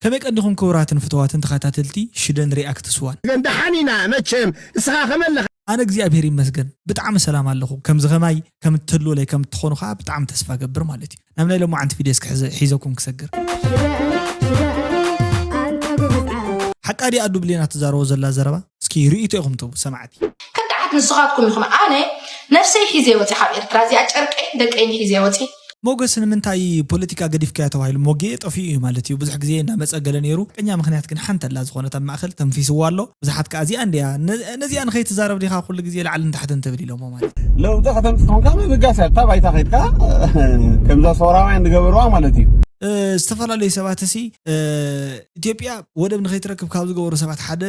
ከመይ ቀኒኹም ክቡራትን ፍቱዋትን ተኻታተልቲ ሽደን ሪኣክትስ ዋን። ተመስገን ደሓን ኢና መቸም እስኻ ከመይ ኣለኻ። ኣነ እግዚኣብሔር ይመስገን ብጣዕሚ ሰላም ኣለኹ ከምዚ ከማይ ከም እትህልዉለይ ከም እትኾኑ ኸኣ ብጣዕሚ ተስፋ እገብር ማለት እዩ ናብ ናይ ሎማዓንቲ ቪድዮ እስኪ ሕዘ ሒዘኩም ክሰግር። ሽደን ሽደን ኣንታ ጉብዝ ዓል። ሓቃ ድያ ኣዱ ብሌን ኣትዛረቦ ዘላ ዘረባ? እስኪ ርእቶ ኢኹም ትህቡ ሰማዕቲ ከዳዓት ንስኻትኩም ኢኹም ኣነ ነፍሰይ ሒዘ ወፂ ካብ ኤርትራ እዚኣ ጨርቀይን ደቀይን ሒዘ ወፂ። ሞገስ ንምንታይ ፖለቲካ ገዲፍካዮ ተባሂሉ ሞጌ ጠፊኡ እዩ ማለት እዩ ብዙሕ ግዜ እንዳመጸ ገለ ኔሩ ሓቀኛ ምኽንያት ግን ሓንቲ ኣላ ዝኾነት ኣብ ማእከል ተንፊስዋ ኣሎ ብዙሓት ከኣ እዚኣ እንድያ ነዚኣ ንኸይትዛረብ ዲኻ ኩሉ ግዜ ላዕልን ታሕትን ትብል ኢሎሞ ማለት እዩ ለውጢ ከተምጽእ ኮንካ ምብጋስ እያ ኣብታ ባይታ ከድካ ከምዛ ሶራውያን ዝገበርዋ ማለት እዩ ዝተፈላለዩ ሰባትሲ ኢትዮጵያ ወደብ ንከይትረክብ ካብ ዝገበሩ ሰባት ሓደ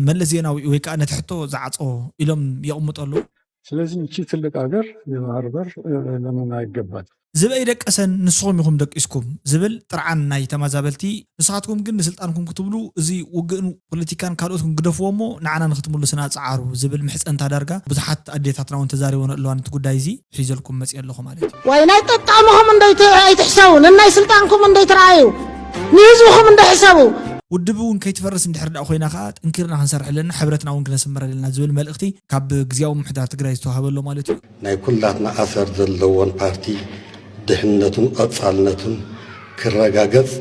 መለስ ዜናዊ እዩ ወይ ከዓ ነቲ ሕቶ ዝዓፆ ኢሎም የቕምጡ ኣለው። ስለዚ እቺ ትልቅ ሃገር የባህርበር ለምን ኣይገባል። ዝበይ ደቀሰን ንስኹም ኢኹም ደቂስኩም ዝብል ጥርዓን ናይ ተማዛበልቲ ንስኻትኩም ግን ንስልጣንኩም ክትብሉ እዚ ውግእን ፖለቲካን ካልኦትን ግደፍዎ እሞ ንዓና ንክትምሉስና ጸዓሩ ዝብል ምሕጸንታ ዳርጋ ብዙሓት ኣዴታትና ውን ተዛሪበንኦ ኣለዋ ነቲ ጉዳይ እዚ ሒዘልኩም መጽየ ኣለኹ ማለት እዩ። ዋይ ናይ ጠጣምኹም እንዶ ኣይትሕሰቡ ነናይ ስልጣንኩም እንዶ ኣይትርኣዩ ንህዝብኹም እንዶ ሕሰቡ። ውድብ እውን ከይትፈርስ እንድሕር ድኣ ኮይና ከኣ ጠንኪርና ክንሰርሕ ኣለና ሕብረትና እውን ክነስምር ኣለና ዝብል መልእኽቲ ካብ ግዝያዊ ምምሕዳር ትግራይ ዝተዋህበ ኣሎ ማለት እዩ። ናይ ኩላትና ኣሰር ዘለዎን ፓርቲ ድሕንነቱን ቐፃልነቱን ክረጋገፅ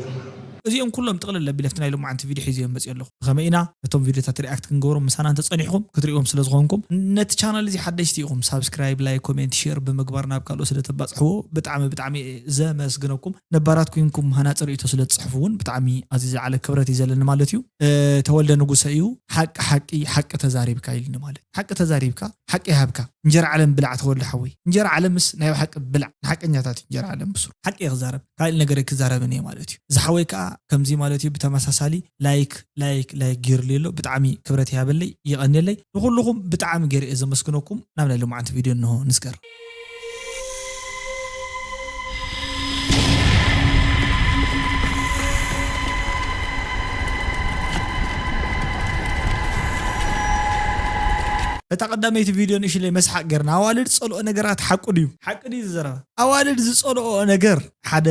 እዚኦም ኩሎም ጥቅልል ኣቢለ ኣብቲ ናይ ሎማዓንቲ ቪድዮ ሒዘዮም መጺየ ኣለኹ። ብኸመይ ኢና ነቶም ቪድዮታት ሪኣክት ክንገብሮም ምሳና እንተጸኒሕኩም ክትሪእዎም ስለ ዝኾንኩም ነቲ ቻናል እዚ ሓደሽቲ ኢኹም ሳብስክራይብ ላይክ ኮሜንት ሼር ብምግባር ናብ ካልኦት ስለ ተባጽሕዎ ብጣዕሚ ብጣዕሚ እየ ዘመስግነኩም ነባራት ኩንኩም ሃናጺ ሪኢቶ ስለ ትጽሕፉ ውን ብጣዕሚ ኣዝዩ ዝለዓለ ክብረት እዩ ዘለኒ ማለት እዩ ተወልደ ንጉሰ እዩ ሓቂ ሓቂ ሓቂ ተዛሪብካ ኢልኒ ማለት ሓቂ ተዛሪብካ ሓቂ ይሃብካ እንጀራ ዓለም ብላዕ ተወልደ ሓወይ እንጀራ ዓለምስ ናይ ብሓቂ ብላዕ ንሓቀኛታት እዩ እንጀራ ዓለም ብሱሩ ሓቂ እየ ክዛረብ ካልእ ነገር ኣይክዛረብን እየ ማለት እዩ ዝሓወይ ከኣ ከምዚ ማለት እዩ ብተመሳሳሊ ላይክ ላይክ ላይክ ጌሩለይ ኣሎ ብጣዕሚ ክብረት ይሃበለይ የቀንየለይ ንኩሉኩም ብጣዕሚ ጌረ እየ ዘመስግነኩም ናብ ናይ ሎማዓንቲ ቪድዮ እንሆ ንስገር። እታ ቀዳመይቲ ቪድዮ ንእሽለይ መስሓቅ ጌርና ኣዋልድ ጸልኦ ነገራት ሓቁ ድዩ? ሓቂ ድዩ ዝዘረባ። ኣዋልድ ዝጸልኦኦ ነገር ሓደ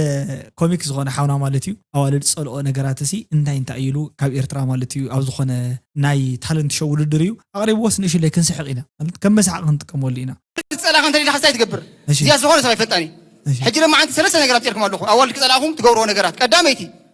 ኮሚክ ዝኾነ ሓውና ማለት እዩ ኣዋልድ ዝጸልኦ ነገራት ሲ እንታይ እንታይ እዩ ኢሉ ካብ ኤርትራ ማለት እዩ ኣብ ዝኾነ ናይ ታለንት ሾው ውድድር እዩ ኣቕሪብዎስ ንእሽለይ ክንስሕቕ ኢና ማለት ከም መስሓቂ ክንጥቀመሉ ኢና። ኣዋልድ ክጸልኣኻ እንተደሊኻ እንታይ ትገብር? እዚኣስ ዝኾነ ሰብ ኣይፈልጣን እዩ። ሕጂ ሎማዓንቲ ሰለስተ ነገራት ኣብጺርኩም ኣለኹ ኣዋልድ ክጸልኣኹም ትገብርዎ ነገራት ቀዳመይቲ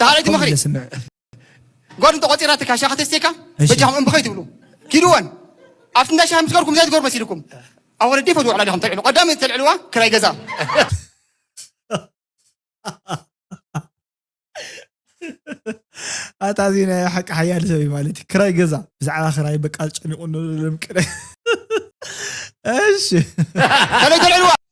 ዳሓረይቲ ምኽሪ ጓል እንተቆፂራትካ ሻሂ ከተስትየካ በጃኹም እምቢ ከይትብሉ ኪድወን ኣብቲ እንዳ ሻሂ ምስ ገርኩም እንታይ ትገብሩ መሲልኩም ኣብ ወለዲ ፈትዎ ዕላል ኢኹም ተልዕሉ ቀዳሚ ተልዕልዋ ክራይ ገዛ ኣታ እዚ ናይ ሓቂ ሓያል ሰብ እዩ ማለት እዩ ክራይ ገዛ ብዛዕባ ክራይ በቃ ጨኒቑ ንልምቅደ እሺ ከመይ ተልዕልዋ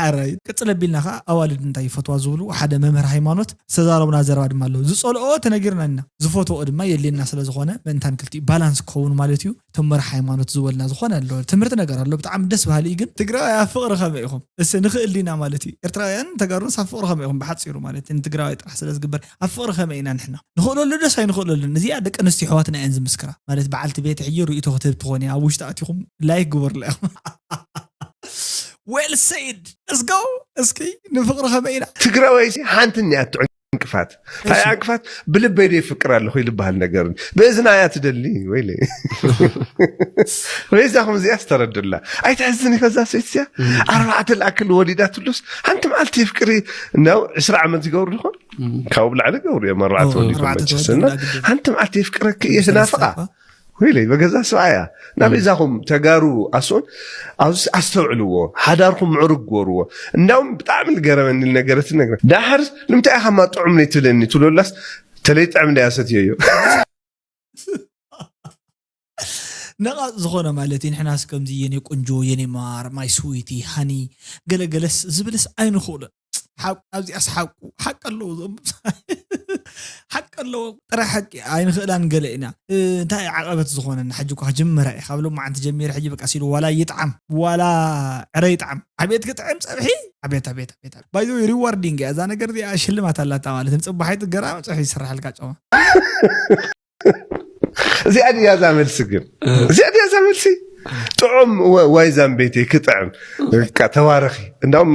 ሓራዩ ቅፅል ኣቢልና ከዓ ኣዋልድ እንታይ ይፈትዋ ዝብሉ ሓደ መምህር ሃይማኖት ዝተዛረቡና ዘረባ ድማ ኣሎ ዝፀልኦ ተነጊርና ኢና ዝፈትዎ ድማ የድልየና ስለዝኾነ ምእንታን ክልቲኡ ባላንስ ክኸውን ማለት እዩ እቶም መራሕ ሃይማኖት ዝበሉና ዝኾነ ኣሎ ትምህርቲ ነገር ኣሎ ብጣዕሚ ደስ በሃሊ እዩ ግን ትግራዋይ ኣብ ፍቕሪ ከመይ ኢኹም እስ ንኽእል ዲና ማለት እዩ ኤርትራውያን ተጋሩንስ ኣብ ፍቕሪ ከመይ ኢኹም ብሓፂሩ ማለት ንትግራዋይ ጥራሕ ስለዝግበር ኣብ ፍቅሪ ከመይ ኢና ንሕና ንክእለሉ ደስ ኣይንክእለሉን እዚኣ ደቂ ኣንስትዮ ኣሕዋትና እየን ዝምስክራ ማለት በዓልቲ ቤተ ሕጂ ርእይቶ ክትህብ ትኮን እያ ኣብ ውሽጢ ኣቲኩም ላይክ ግበሩለይ ዌል ሰይድ ለስ ጎ እስኪ ንፍቅሪ ከመይ ኢና ትግራዋይ ሓንቲ እኒኣቶ ዕንቅፋት እታ ዕንቅፋት ብልበይ ዶ ይፍቅር ኣለኹ ይልበሃል ነገር ብእዝና እያ ትደሊ ወይ ወይዛኹም እዚኣ ዝተረድላ ኣይትሕዝን ከዛ ሰይት እዚኣ ኣርባዕተ ላእክል ወሊዳትሉስ ሓንቲ መዓልቲ ፍቅሪ እንዲያው ዕስራ ዓመት ዝገብሩ ድኾን ካብኡ ብላዕሊ ገብሩ እዮም ኣርባዕተ ኦ፣ ወሊዶም ኣርባዕተ መቸስ ተወሊዶም እና ዳግም ዶ- ሓንቲ መዓልቲ የፍቅረኪ እየ ስናፍቃ ወይለይ በገዛ ሰብኣያ ናብ እዛኹም ተጋሩ ኣስኡን ኣብዚ ኣስተውዕልዎ ሓዳርኩም ምዕሩግ ግበርዎ እንዳውም ብጣዕሚ ዝገረመኒ ነገረት ነግረ ዳሓር ንምንታይ ኢኻ ማ ጥዑም ነይ ትብለኒ ትብለላስ ተለይ ጥዕም እንዳያ ሰትዮ እዩ ነቓጽ ዝኾነ ማለት እዩ ንሕናስ ከምዚ የኔ ቁንጆ የኔ ማር ማይ ስዊቲ ሃኒ ገለ ገለስ ዝብልስ ኣይንኽእሎን ሓቁ ኣብዚኣስ ሓቁ ሓቂ ኣለዎ እዞም ሓቂ ኣለዎ ጥራይ ሓቂ ኣይንኽእላን ገለ ኢና እንታይ እዩ ዓቐበት ዝኾነና ሕጂ እኳ ክጅምራ እዩ ካብ ሎማዓንቲ ጀሚረ ሕጂ በቃ ሲሉ ዋላ ይጥዓም ዋላ ዕረ ይጥዓም ዓብየት ክጥዕም ፀብሒ ዓብየት ዓብየት ዓብየት ባይዘ ሪዋርዲንግ እያ እዛ ነገር እዚኣ ሽልማት ኣላታ ማለት ንፅባሒት ገራሚ ፀብሒ ይስራሓልካ ጨማ እዚኣ ድያ እዛ መልሲ ግን እዚኣ ድያ እዛ መልሲ ጥዑም ወ- ዋይ ዛምቤቴ ክጥዕም በቃ ተባረኺ እንዳውም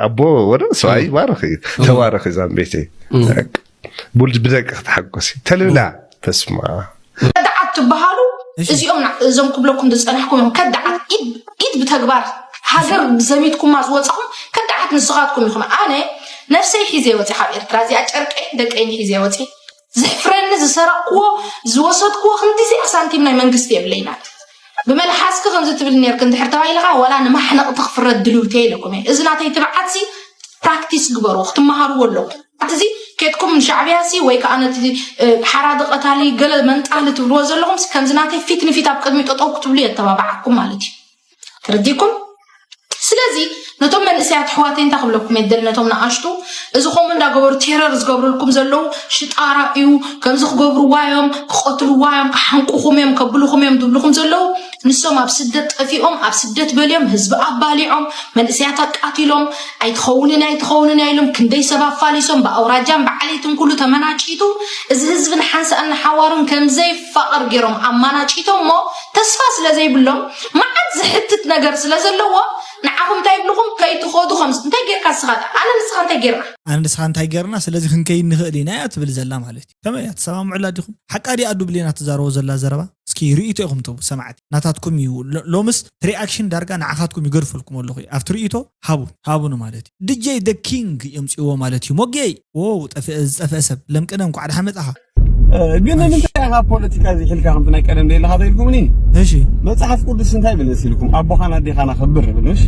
ኣቦ ወደ ሰብኣይ ይባረኽ እዩ ተባረኺ ዛምቤቴ በቃ ቡልድ ብደቂ ክትሓጎሲ ተልብላ በስማ ከዳዓት ትበሃሉ እዚኦም ና- እዞም ክብለኩም ዝፀናሕኩም እዮም ከዳዓት ኢድ- ኢድ ብተግባር ሃገር ዘሚትኩማ ዝወፃኹም ከዳዓት ንስኻትኩም ኢኹም ኣነ ነፍሰይ ሒዘ ወፂ ካብ ኤርትራ እዚኣ ጨርቀይ ደቀይን ሒዘ ወፂ ዝሕፍረኒ ዝሰረቕክዎ ዝወሰድክዎ ክንዲዚኣ ሳንቲም ናይ መንግስቲ የብለይና ብመልሓስኪ ከምዚ ትብል ነርክ እንድሕር ተባሂልኻ ዋላ ንማሕነቕቲ ክፍረድ ድልውቲ ኢለኩም እየ እዚ ናተይ ትብዓትሲ ፕራክቲስ ግበሩ ክትመሃርዎ ኣለኩም ኣትዚ ኬትኩም ንሻዕብያሲ ወይ ከዓ ነቲ ሓራዲ ቀታሊ ገለ መንጣሊ ትብልዎ ዘለኹም ከምዚ ናተይ ፊት ንፊት ኣብ ቅድሚ ጠጠው ክትብሉ የተባብዓኩም ማለት እዩ ተረዲኩም ስለዚ ነቶም መንእሰያት ኣሕዋተይ እንታይ ክብለኩም እየ ደል ነቶም ንኣሽቱ እዚ ከምኡ እንዳገበሩ ቴረር ዝገብርልኩም ዘለዉ ሽጣራ እዩ ከምዚ ክገብርዋ እዮም ክቐትልዋ እዮም ክሓንቁኹም እዮም ከብልኹም እዮም ዝብልኹም ዘለዉ ንሶም ኣብ ስደት ጠፊኦም ኣብ ስደት በልዮም ህዝቢ ኣባሊዖም መንእሰያት ኣቃቲሎም ኣይትኸውንን ኣይትኸውንን እያ ኢሎም ክንደይ ሰብ ኣፋሊሶም ብኣውራጃን ብዓሌትን ኩሉ ተመናጪቱ እዚ ህዝቢ ንሓንሳእን ንሓዋሩን ከምዘይፋቐር ገይሮም ኣማናጪቶም እሞ ተስፋ ስለ ዘይብሎም መዓት ዝሕትት ነገር ስለ ዘለዎ ንዓኹም እንታይ ይብልኹም ከይትኸዱ ከም እንታይ ጌርካ ንስኻ ዳኣ ኣነ ንስኻ እንታይ ጌርና ኣነ ንስኻ እንታይ ጌርና ስለዚ ክንከይድ ንኽእል ኢና እያ ትብል ዘላ ማለት እዩ ከመይ እያ ትሰማምዑላ ዲኹም ሓቃ ድያ ኣዱ ብሌና ትዛረቦ ዘላ ዘረባ እስኪ ርእይቶ ኢኹም ትህቡ ሰማዕቲ ናታትኩም እዩ ሎምስ ትሪኣክሽን ዳርጋ ንዓኻትኩም ይገድፈልኩም ኣለኹ እዩ ኣብቲ ርእይቶ ሃቡን ሃቡኑ ማለት እዩ ድጄ the king የምጽእዎ ማለት እዩ ሞጌይ ዎው ጠፍኤ ዝጠፍኤ ሰብ ለምቅነ እንኳዕ ደሓን መጻኻ ግን ንምንታይ ኢኻ ፖለቲካ ዘይሕልካ ከምቲ ናይ ቀደም ደለኻ ተኢልኩምኒ እሺ መጽሓፍ ቅዱስ እንታይ ይብል መሲልኩም ኣቦኻን ኣዴኻን ኣኽብር ይብል እሺ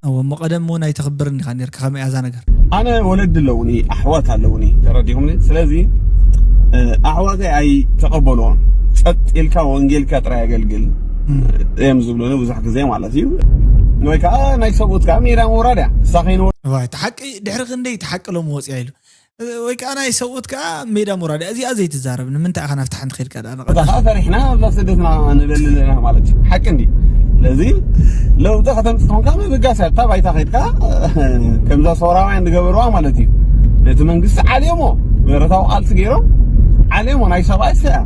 እዎ እሞ ቀደም እውን ኣይተኽብርን ኢኻ ነርካ ከመይ እያ እዛ ነገር ኣነ ወለዲ ኣለውኒ ኣሕዋት ኣለውኒ ተረዲኹምኒ ስለዚ ኣሕዋተይ ኣይተቐበልዎን ጸጥ ኢልካ ወንጌልካ ጥራይ ኣገልግል እዮም ዝብሉኒ ብዙሕ ግዜ ማለት ወይ ከዓ ናይ ሰብኡት ከዓ ሜዳ ምውራድ እያ ንሳ ከይንወ እቲ ሓቂ ድሕሪ ክንደይ እቲ ሓቂ ሎም ወፅያ ኢሉ ወይ ከዓ ናይ ሰብኡት ከዓ ሜዳ ምውራድ እያ እዚኣ ዘይትዛረብ ንምንታይ ኢኻ ናብቲ ሓንቲ ከድካ ዳኣ እታ ከዓ ፈሪሕና ኣብዛ ስደትና ንደሊ ኣለና ማለት እዩ ሓቂ እንዲ ስለዚ ለውጢ ከተምፅእ ኮንካ ምብጋስ እያ እታ ባይታ ከይድካ ከምዛ ሰውራውያን ዝገበርዋ ማለት እዩ ነቲ መንግስቲ ዓልዮሞ ብረታዊ ቃልሲ ገይሮም ዓልዮሞ ናይ ሰብኣይ ስያ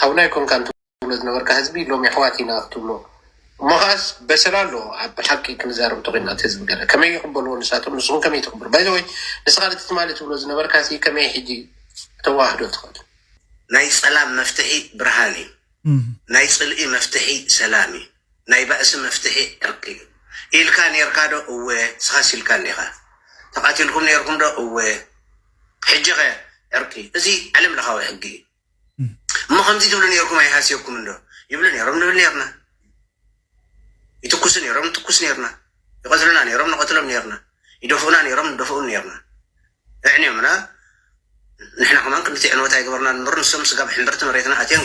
ሓውና ኣይኮንካን ትብሎ ዝነበርካ ህዝቢ ሎሚ ኣሕዋት ኢና ክትብሎ እሞ ከዓስ በሰላ ኣሎ ኣብ ሓቂ ክንዛረብ እንተኮይና እቲ ህዝቢ ገለ ከመይ ይቅበልዎ ንሳቶም ንስኩም ከመይ ትቅበሉ ባይዘወይ ንስካ ነቲ ትማሊ ትብሎ ዝነበርካ ሲ ከመይ ሕጂ ተዋህዶ ትክእል ናይ ጸላም መፍትሒ ብርሃን እዩ ናይ ጽልኢ መፍትሒ ሰላም እዩ። ናይ ባእሲ መፍትሒ ዕርቂ እዩ ኢልካ ኔርካ ዶ እወ ንስኻስ ኢልካ እንዲኻ ተቓቲልኩም ኔርኩም ዶ እወ ሕጂ ከ ዕርቂ እዚ ዓለም ለኻዊ ሕጊ እዩ እሞ ከምዚ ትብሉ ኔርኩም ኣይሃስየኩምን ዶ ይብሉ ኔሮም ንብል ኔርና ይትኩሱ ኔሮም ንትኩስ ኔርና ይቐትሉና ኔሮም ንቐትሎም ኔርና ይደፍኡና ኔሮም ንደፍኡም ኔርና ኣዕንዮምና ንሕና ከማን ክንዲቲ ዕንወት ኣይገበርናን እምበር ንሶም ስጋብ ሕምብርቲ መሬትና ኣትዮም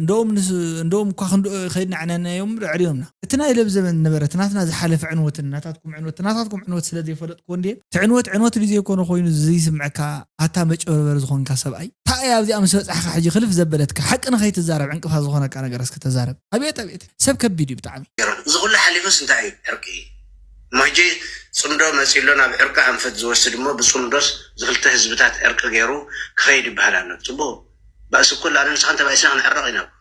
እንደኡም እኳ ክንድኡ ከይድና ኣዕናኒናዮም እምበር ኣዕሪሮምና። እቲ ናይ ለብ ዘበን ነበረ እቲ ናትና ዝሓለፈ ዕንወትን ናታትኩም ዕንወት እቲ ናታትኩም ዕንወት ስለ ዘይፈለጥክዎ እንድየ እቲ ዕንወት ዕንወት ድዩ ዘይኮነ ኮይኑ ዝይስምዐካ ኣታ መጭበርበሪ ዝኾንካ ሰብኣይ ታይ እያ ኣብዚኣ ምስ በፃሕኻ ሕጂ ክልፍ ዘበለትካ ሓቂ ንኸይትዛረብ ዕንቅፋት ዝኾነካ ነገር እስኪ ተዛረብ ኣብየት ኣብየት ሰብ ከቢድ እዩ ብጣዕሚ። ገሮን እዚ ኩሉ ሓሊፉስ እንታይ እዩ ዕርቂ እሞ ሕጂ ፅምዶ መፅዩ ኣሎ ናብ ዕርቂ ኣንፈት ዝወስድ እሞ ብፅምዶስ ዝክልተ ህዝብታት ዕርቂ ገይሩ ክከይድ ይበሃል ኣሎ ፅቡቅ ባእሲ እኮ ኣነ ንስኻን ተባኢስና ክንዕረቕ ኢና እኮ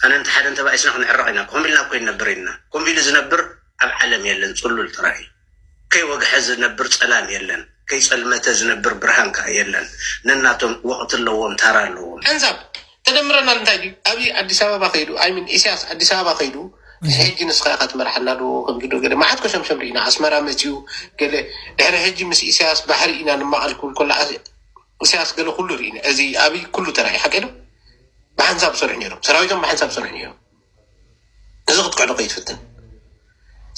ኣነ እንተ ሓደ እንተባኢስና ክንዕረቕ ኢና ኮም ኢልና እኮ ኣይንነብር ኢልና ኮም ኢሉ ዝነብር ኣብ ዓለም የለን ጽሉል ጥራይ እዩ ከይወግሐ ዝነብር ጸላም የለን ከይጸልመተ ዝነብር ብርሃን ከኣ የለን ነናቶም ወቕቲ ኣለዎም ታራ ኣለዎም። ሕንሳብ ተደምረናል እንታይ ድዩ ኣብይ ኣዲስ ኣበባ ከይዱ ኣይ ሚን ኢሳያስ ኣዲስ ኣበባ ከይዱ ሕጂ ንስኻ ኢኻ ትመርሓና ዶ ከምዚ ዶ ገለ መዓት ኮሸምሸም ርኢና ኣስመራ መጺኡ ገለ ድሕሪ ሕጂ ምስ ኢሳያስ ባሕሪ ኢና ንማቐል ክብል ከሎ ኢሳያስ ገለ ኩሉ ርኢ እዚ ኣብይ ኩሉ ተራእዩ ሓቂ ዶ ብሓንሳብ ዝሰርሑ ነይሮም ሰራዊቶም ብሓንሳብ ዝሰርሑ ነይሮም እዚ ክትክዕዶ ከይትፍትን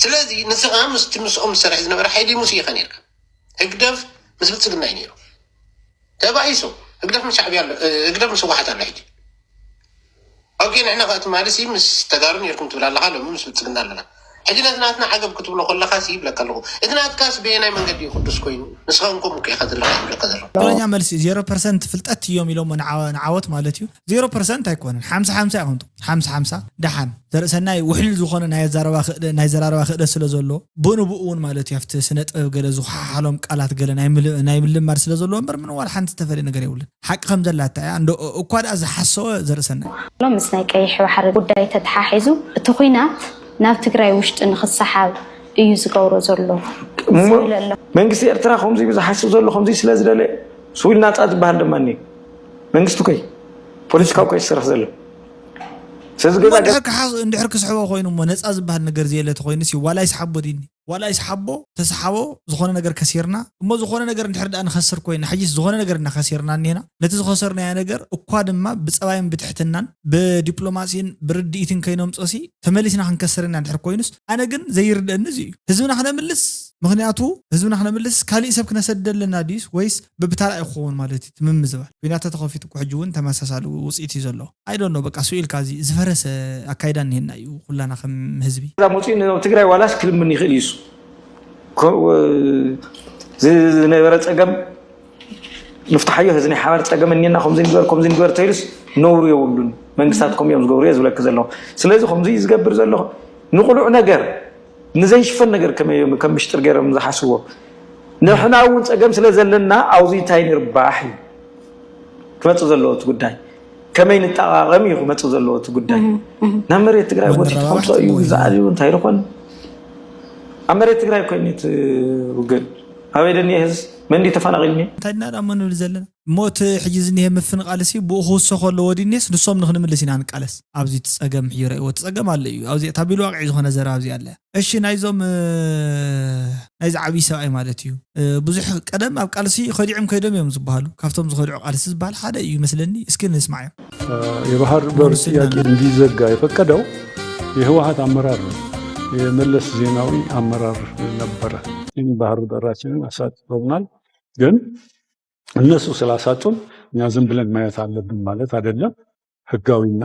ስለዚ ንስኻ ምስቲ ምስኦም ዝሰርሕ ዝነበረ ሓይሊ ሙስ ኢኻ ነርካ ህግደፍ ምስ ብልፅግና እዩ ነይሩ ተባኢሶ ህግደፍ ምስ ሻዕብያ ኣሎ ህግደፍ ምስ ህወሓት ኣሎ ሕጂ ኦኬ ንሕና ከኣ ትማሊ ሲ ምስ ተጋሩ ኔርኩም ትብል ኣለኻ ሎሚ ምስ ብልጽግና ኣለና ሕጂ ነቲ ናትና ዓገብ ክትብሎ ከለኻ ሲ ይብለካ ኣለኹ እቲ ናትካስ በየናይ መንገዲ እዩ ቅዱስ ኮይኑ ንስኻ ውን ከምኡ እኮ ኢኻ ዘለኻ ይብለካ ዘለኹ። ትክክለኛ መልሲ ዜሮ ፐርሰንት ፍልጠት እዮም ኢሎሞ ንዓወት ማለት እዩ ዜሮ ፐርሰንት ኣይኮነን ሓምሳ ሓምሳ ኢኩም ትኮኑ ሓምሳ ሓምሳ ደሓን ዘርእሰናይ ውሕሉል ዝኮነ ናይ ኣዛረባ ክእለ ናይ ዘራረባ ክእለት ስለ ዘሎዎ ብኡንብኡ ውን ማለት እዩ ኣብቲ ስነ ጥበብ ገለ ዝኮሓሓሎም ቃላት ገለ ናይ ምልማድ ስለ ዘሎዎ እምበር ምንም ዋላ ሓንቲ ዝተፈልየ ነገር የብሉን ሓቂ ከም ዘላታ እያ እንዶ እኳ ድኣ ዝሓሰወ ዘርእሰና እዩ። ሎምስ ናይ ቀይሕ ባሕሪ ጉዳይ ተተሓሒዙ እቲ ኹናት ናብ ትግራይ ውሽጢ ንኽሰሓብ እዩ ዝገብሮ ዘሎ ዝብል ኣሎ። መንግስቲ ኤርትራ ከምዙይ ዝሓስብ ዘሎ ከምዙይ ስለ ዝደለየ ስውል ናፃ ዝብሃል ድማ እኒኦ መንግስቲ እኮ እዩ ፖለቲካዊ እኮ እዩ ዝሰርሕ ዘሎ ስለዚ እሞ ገዛ እንድሕር ክሓስ እንድሕር ክስሕቦ ኮይኑ እሞ ነፃ ዝብሃል ነገር ዘየለ ተኾይኑሲ ዋላ ይስሓቦ ድይኒ? ዋላ ይስሓቦ ተስሓቦ ዝኾነ ነገር ከሲርና እሞ ዝኾነ ነገር እንድሕር ድኣ ንኸስር ኮይና ሕጂስ ዝኾነ ነገር ኢና ከሲርና እኒሀና ነቲ ዝኸሰርናዮ ነገር እኳ ድማ ብፀባይን ብትሕትናን ብዲፕሎማሲን ብርድኢትን ከይነምፆሲ ተመሊስና ክንከስር ኢና እንድሕር ኮይኑስ ኣነ ግን ዘይርደእኒ እዚ እዩ ህዝብና ክነምልስ ምኽንያቱ ህዝብና ክነምልስ ካሊእ ሰብ ክነሰድድ ኣለና ድዩስ ወይስ በብታራ እዩ ክኸውን ማለት እዩ እቲ ምምዝባል ኩናት ተተኸፊቱ እኮ ሕጂ እውን ተመሳሳሊ ውፅኢት እዩ ዘለዎ። I don't know በቃ ስቅ ኢልካ እዚ ዝፈረሰ ኣካይዳ እኒሀና እዩ ኩላና ከም ህዝቢ። እዛ መፅኡ ንህዝቢ ትግራይ ዋላስ ክልምን ይኽእል እዩ እሱ ዝነበረ ፀገም ንፍትሓዮ ህዚ ናይ ሓባር ፀገም እኒና ከምዚ ንግበር ከምዚ ንግበር ተይሉስ ነውሩ የብሉን መንግስታት ከምኡ እዮም ዝገብሩ እየ ዝብለኪ ዘለኹ ስለዚ ከምዚ እዩ ዝገብር ዘለኹ ንቁሉዕ ነገር ንዘይሽፈን ነገር ከመይ እዮም ከም ምሽጥር ገይሮም ዝሓስዎ ንሕና እውን ፀገም ስለ ዘለና ኣብዚ እንታይ ንርባሕ እዩ ክመፅእ ዘለዎ እቲ ጉዳይ ከመይ ንጠቃቀም እዩ ክመፅእ ዘለዎ እቲ ጉዳይ ናብ መሬት ትግራይ ቦቲ ከምፆ እዩ ግዛእ እዩ እንታይ ዝኾን ኣብ መሬት ትግራይ ኮይኑ እቲ ውግእ ኣበይ ደኒየ ህዝ መን ድዩ ተፈናቂልኒ እንታይ ድና ዳሞ ንብል ዘለና እሞ እቲ ሕጂ ዝኒሀ ምፍንቓልሲ ብኡ ክውሰኾ ኣለዎ ድዩኒስ ንሶም ንክንምልስ ኢና ንቃለስ ኣብዚ እቲ ፀገም ሕጂ ረእዎ እቲ ፀገም ኣሎ እዩ ኣብዚ እታ ቢልዋቅዒ ዝኾነ ዘረባ ኣብዚኣ ኣላ እያ እሺ ናይዞም ናይዚ ዓብይ ሰብኣይ ማለት እዩ ብዙሕ ቀደም ኣብ ቃልሲ ከዲዕም ከይዶም እዮም ዝበሃሉ ካብቶም ዝኸድዑ ቃልሲ ዝበሃል ሓደ እዩ ይመስለኒ እስኪ ንስማዕ እዮም የባህር በር ጥያቄ እንዲዘጋ የፈቀደው የህወሀት አመራር ነው። የመለስ ዜናዊ አመራር ነበረ። ይህን ባህር በራችንን አሳጥቶናል። ግን እነሱ ስላሳጡን እኛ ዝም ብለን ማየት አለብን ማለት አይደለም። ህጋዊና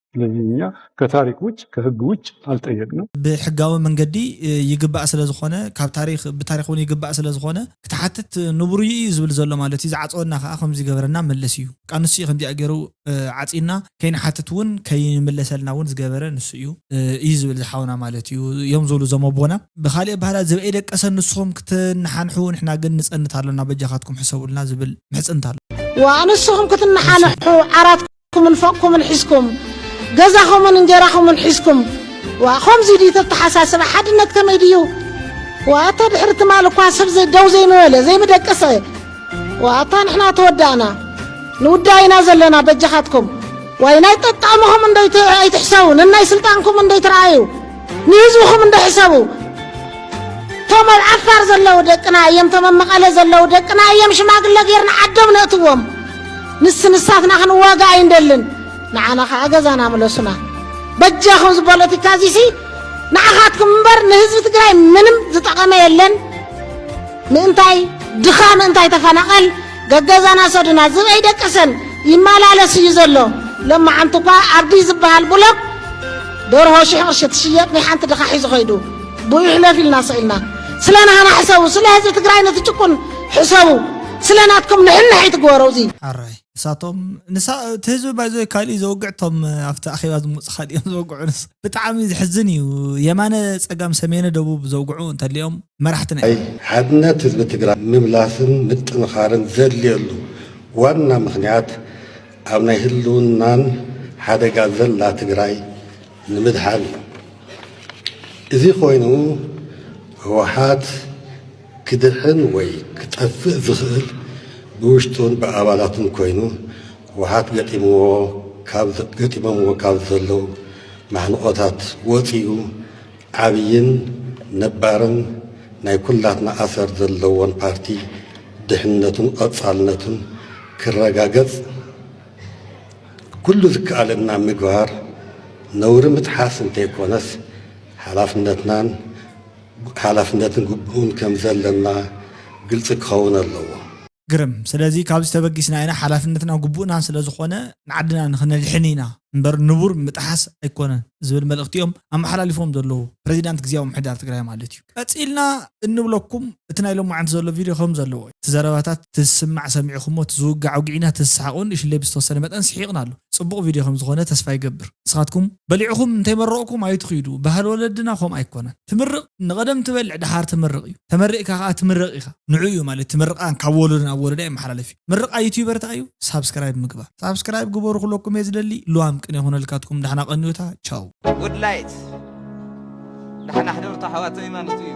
ስለዚ እኛ ከታሪክ ውጭ ከህግ ውጭ ኣልጠየቅንም። ብሕጋዊ መንገዲ ይግባእ ስለ ዝኾነ ካብ ታሪክ ብታሪክ ውን ይግባእ ስለ ዝኾነ ክትሓትት ንቡርዩ እዩ ዝብል ዘሎ ማለት እዩ ዝዓጸወና ከኣ ከምዚ ገበረና መለስ እዩ በቃ ንሱ እዩ ከምዚኣ ገሩ ዓጺዩና ከይንሓትት ውን ከይምለሰልና ውን ዝገበረ ንሱ እዩ እዩ ዝብል ዝሓውና ማለት እዩ እዮም ዝብሉ እዞም ኣቦና ብኻልእ ኣበሃህላ ዝብኢ ደቀሰ ንስኹም ክትናሓንሑ ንሕና ግን ንጸንት ኣሎና በጃኻትኩም ሕሰቡልና ዝብል ምሕጽንታ ኣሎ ዋእ ንስኹም ክትናሓንሑ ዓራት ኩምን ፎቕኩምን ሒዝኩም ገዛኹምን እንጀራኹምን ሒዝኩም ዋ ከምዚ ድዩ ተተሓሳስባ ሓድነት ከመይ ድዩ ዋ እተ ድሕሪ ትማል እኳ ሰብ ደው ዘይምበለ ዘይምደቀሰ ዋ እታ ንሕና ተወዳእና ንውዳእ ኢና ዘለና በጃኻትኩም ዋይ ናይ ጠጣዕምኹም እንደይትሕሰቡ ንናይ ስልጣንኩም እንደይትረኣዩ ንህዝብኹም እንዶ ሕሰቡ እቶም ኣብ ዓፋር ዘለዉ ደቅና እዮም እቶም ኣብ መቐለ ዘለዉ ደቅና እዮም ሽማግለ ጌርና ዓዶም ነእትዎም ንስ ንሳትና ክንዋጋ ኣይንደልን ንዓና ከዓ ገዛና ምለሱና በጃኹም እዚ ፖለቲካ እዚሲ ንዓኻትኩም እምበር ንህዝቢ ትግራይ ምንም ዝጠቐመ የለን ምእንታይ ድኻ ምእንታይ ተፈናቐል ገገዛና ሰዱና ዝብ ኣይደቀሰን ይመላለስ እዩ ዘሎ ለማዓንቲ እኳ ኣብዲ ዝበሃል ብሎክ ደርሆ ሽሕ ቅርሺ ትሽየጥ ናይ ሓንቲ ድኻ ሒዙ ኸይዱ ብኡ ይሕለፍ ኢልና ሰኢልና ስለ ናህና ሕሰቡ ስለ ህዝቢ ትግራይ ነቲ ጭቁን ሕሰቡ ስለ ናትኩም ንሕንሕ ኣይትግበሩ እዚ ሐራይ ንሳቶም ንሳ እቲ ህዝቢ ባይዘ ካልእ ዘውግዕ ቶም ኣብቲ ኣኼባ ዝመጹ ካልእ እዮም ዘወግዑ ንስ ብጣዕሚ ዝሕዝን እዩ የማነ ፀጋም ሰሜነ ደቡብ ዘውግዑ እንተሊኦም መራሕቲ ናይ። ሓድነት ህዝቢ ትግራይ ምምላስን ምጥንኻርን ዘድልየሉ ዋና ምኽንያት ኣብ ናይ ህልውናን ሓደጋ ዘላ ትግራይ ንምድሓን እዩ። እዚ ኮይኑ ህወሓት ክድሕን ወይ ክጠፍእ ዝኽእል ብውሽጡን ብኣባላቱን ኮይኑ ህወሓት ገጢምዎ ገጢሞምዎ ካብ ዘለዉ ማሕንቖታት ወፂኡ ዓብይን ነባርን ናይ ኩላትና ኣሰር ዘለዎን ፓርቲ ድሕንነቱን ቐፃልነቱን ክረጋገፅ ኩሉ ዝከኣለና ምግባር ነውሪ ምጥሓስ እንተይኮነስ ሓላፍነትናን ሓላፍነትን ግቡእን ከምዘለና ግልፂ ክኸውን ኣለዎ። ግርም ስለዚ ካብዚ ተበጊስና ኢና ሓላፍነትና ግቡእናን ስለዝኾነ ንዓድና ንክነድሕን ኢና እምበር ንቡር ምጥሓስ ኣይኮነን ዝብል መልእኽቲ እዮም ኣመሓላሊፎም ዘለዉ ፕረዚዳንት ግዝያዊ ምምሕዳር ትግራይ ማለት እዩ። ቀፂልና እንብለኩም እቲ ናይ ሎማዓንቲ ዘሎ ቪድዮ ከምዘለዎ እዩ። እቲ ዘረባታት ትዝስማዕ ሰሚዕኹሞ እቲ ዝውጋዕ ኣውጊዕና እቲ ዝሰሓቕ እውን እሽለይ ብዝተወሰነ መጠን ስሒቕና ኣሉ። ፅቡቕ ቪድዮ ከምዝኾነ ተስፋ ይገብር። ንስኻትኩም በሊዕኹም እንተይመረቕኩም ኣይትኺዱ ባህሊ ወለድና ከምኡ ኣይኮነን። ትምርቕ ንቐደም ትበልዕ ደሓር ትምርቕ እዩ ተመሪቕካ ከኣ ትምረቕ ኢኻ ንዑኡ እዩ ማለት እቲ ምርቓ ካብ ወሎዶ ናብ ወሎዳ ይመሓላለፍ እዩ ምርቓ ዩቱበር እንታይ እዩ ሳብስክራይብ ምግባር ሳብስክራይብ ግበሩ ክብለኩም እየ ዝደሊ ልዋም ቅኔ ይኹነልካትኩም ዳሕና ቀንዩታ ቻው። Good light ዳሕና ሕደሩታ ኣሕዋተይ ማለቱ እዩ።